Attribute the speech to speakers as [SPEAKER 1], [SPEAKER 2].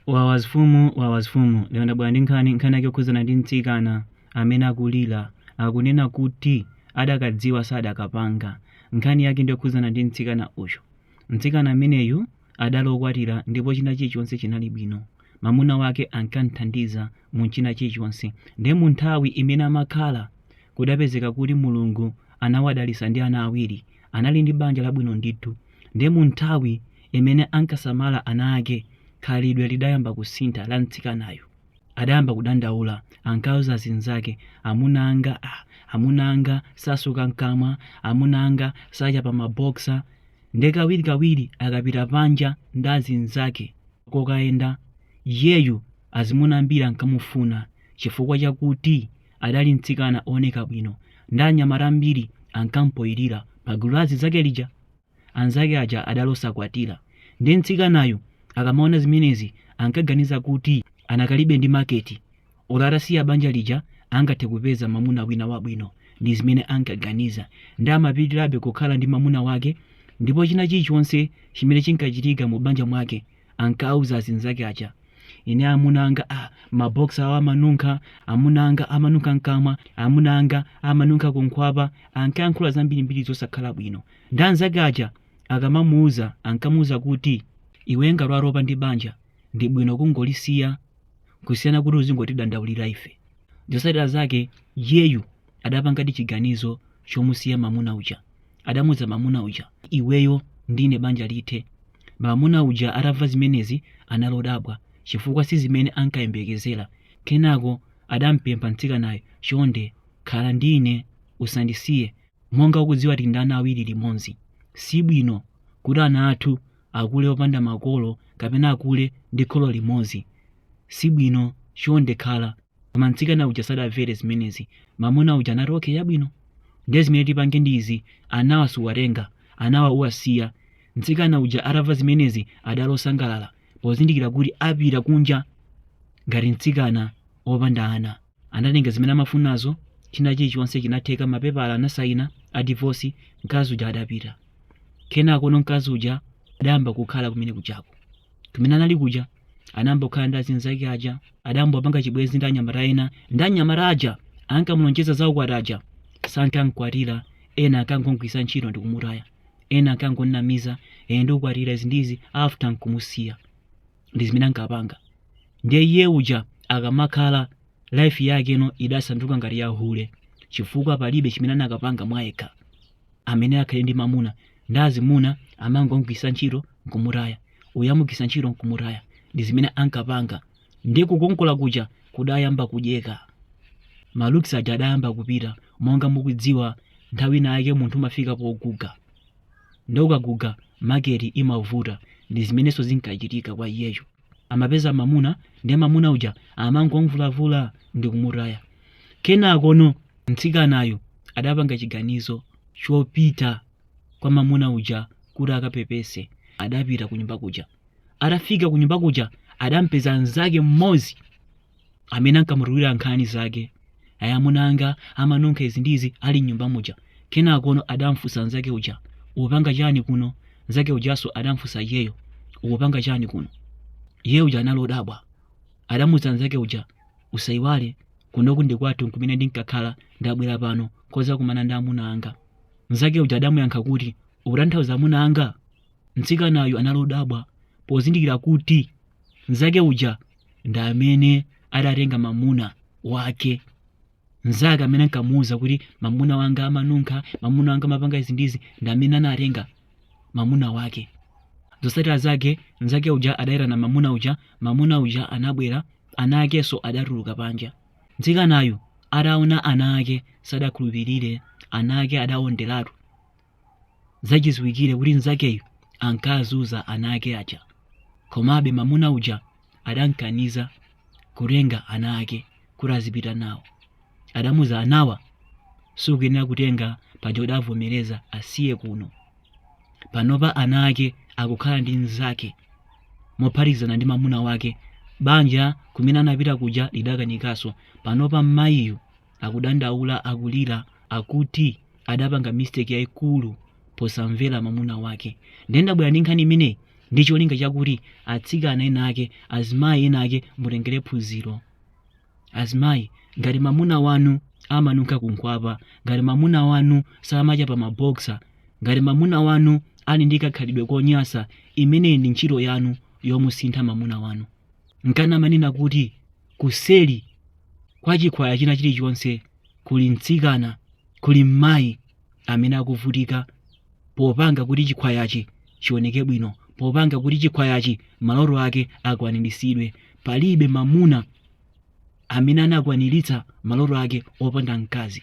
[SPEAKER 1] wawa azifumu wawa azifumu lero ndabwera ndi nkhani nkhani yake yokhudzana ndi mtsikana amene akulira akunena kuti adakadziwa sadakapanga nkhani yake ndi yokhudzana ndi mtsikana uyu mtsikana ameneyu adali okwatira ndipo china chilichonse chinali bwino mamuna wake ankamthandiza mu china chilichonse ndiye mu nthawi imene amakhala kudapezeka kuti mulungu anawadalitsa ndi ana awiri anali ndi banja labwino ndithu ndiye mu nthawi imene ankasamala ana ake khalidwe lidayamba kusintha la mtsikanayo adayamba kudandaula ankauza zinzake amuna anga ah, amuna anga satsuka mkamwa amuna anga sachapa maboksa nde kawirikawiri akapita panja ndi azinzake kokayenda iyeyu azimuna ambiri ankamufuna chifukwa chakuti adali mtsikana ooneka bwino ndi anyamata ambiri ankampoyirira pagulu la azinzake lija anzake aja adali osakwatira ndi mtsikanayu akamaona zimenezi ankaganiza kuti anakalibe ndi maketi olo atasiya banja lija angathe kupeza mamuna wina wabwino ndi zimene ankaganiza nde amapitirabe kukhala ndi mamuna wake ndipo china chilichonse chimene chinkachitika mu banja mwake ankauza azinzake aja ine amuna anga maboksa awo amanunkha amuna anga amanunkha mkamwa amuna anga amanunkha kunkhwapa ankayankhula zambirimbiri zosakhala bwino nde anzake aja akamamuuza ankamuuza kuti iwe ngati watopa ndi banja ndi bwino kungolisiya kusiyana kuti uzingotidandaulira ife zotsatira zake iyeyu adapangadi chiganizo chomusiya mamuna uja adamuuza mamuna uja iweyo ndi ine banja lithe mamuna uja atamva zimenezi anali odabwa chifukwa si zimene ankayembekezera kenako adampempha mtsikanayo chonde khala ndi ine usandisiye monga ukudziwa tili ndi ana awiri limodzi si bwino kuti ana athu akule opanda makolo kapena akule ndi kholo limodzi si bwino chonde khala koma mtsikana uja sadamvere zimenezi mamuna uja anati okay chabwino ndiye zimene tipange ndi izi anawa suwatenga anawa uwasiya mtsikana uja atamva zimenezi adali osangalala pozindikira kuti apita kunja ngati mtsikana opanda ana anatenga zimene amafunazo china chilichonse chinatheka mapepala anasayina a divorce mkazi uja adapita kenakono mkazi uja adayamba kukhala kumene kujako kumene anali kuja anayamba kukhala ndi azinzake aja adayamba kupanga chibwenzi ndi anyamata ena ndi anyamata aja ankamulonjeza za ukwati aja sankamkwatira ena ankangomgwiritsa ntchito ndi kumutaya ena ankangonamiza ine ndikukwatira izi ndi izi after nkumusiya ndi zimene ankapanga ndiye iye uja akamakhala life yakeno idasanduka ngati ya hule chifukwa palibe chimene anakapanga mwayekha amene akhale ndi mamuna ndiye azimuna amangomugwiritsa ntchito nkumutaya uyu amugwiritsa ntchito nkumutaya ndi zimene ankapanga ndi kukongola kuja kudayamba kudyeka malooks aja adayamba kupita Munga mukudziwa nthawi ina yake munthu umafika poguga ndi ukaguga maketi imavuta ndi zimenenso zinkachitika kwa iyeyo amapeza mamuna ndiye mamuna uja amangomvulavula ndi kumutaya kenakono mtsikanayo adapanga chiganizo chopita kwa mamuna uja kuti akapepese adapita kunyumba kuja atafika kunyumba kuja adampeza mnzake mmodzi amene ankamutulira nkhani zake ayi amuna anga amanunkha izi ndi izi ali mnyumba muja kenakono adamfunsa nzake uja ukupanga chani kuno nzake ujanso adamfunsa iyeyo ukupanga chani kuno iye uja anali odabwa adamuza nzake uja usayiwale kunoku ndi kwathu kumene ndinkakhala ndabwera pano kudzakumana ndi amuna anga nzake uja adamuyankha kuti ukutanthauza amuna anga mtsikanayu anali odabwa pozindikira kuti nzake uja ndi amene adatenga mamuna wake mnzake amene ankamuwuza kuti mamuna wanga amanunkha mamuna wanga amapanga izi ndizi ndi amene anatenga mamuna wake zotsatira zake mnzake uja adayitana mamuna uja mamuna uja anabwera ana akenso adatuluka panja mtsikanayu ataona ana ake sadakhulupirire ana ake adaonderatu zachiziwikire kuti mnzakeyu ankazunza ana ake aja komabe mamuna uja adamkaniza kutenga ana ake kuti azipita nawo adamuza anawa sukuyenera kutenga paja udavomereza asiye kuno panopa ana ake akukhala ndi mnzake mophatikizana ndi mamuna wake banja kumene anapita kuja lidakanikanso panopa mmayiyu akudandaula akulira akuti adapanga mistake yaikulu posamvera mamuna wake ndiye ndabwera ndi nkhani imeneyi ndi cholinga chakuti atsikana ena ake azimayi ena ake mutengere phunziro azimayi ngati mamuna wanu amanunkha kunkhwapa ngati mamuna wanu samachapa maboksa ngati mamuna wanu ali ndi kakhalidwe konyasa imeneyi ndi ntchito yanu yomusintha mamuna wanu nkana amanena kuti kuseri kwa chikhwaya china chilichonse kuli mtsikana kuli mmayi amene akuvutika popanga kuti chikhwayachi chioneke bwino popanga kuti chikhwayachi maloto ake akwaniritsidwe palibe mamuna amene anakwaniritsa maloto ake opanda mkazi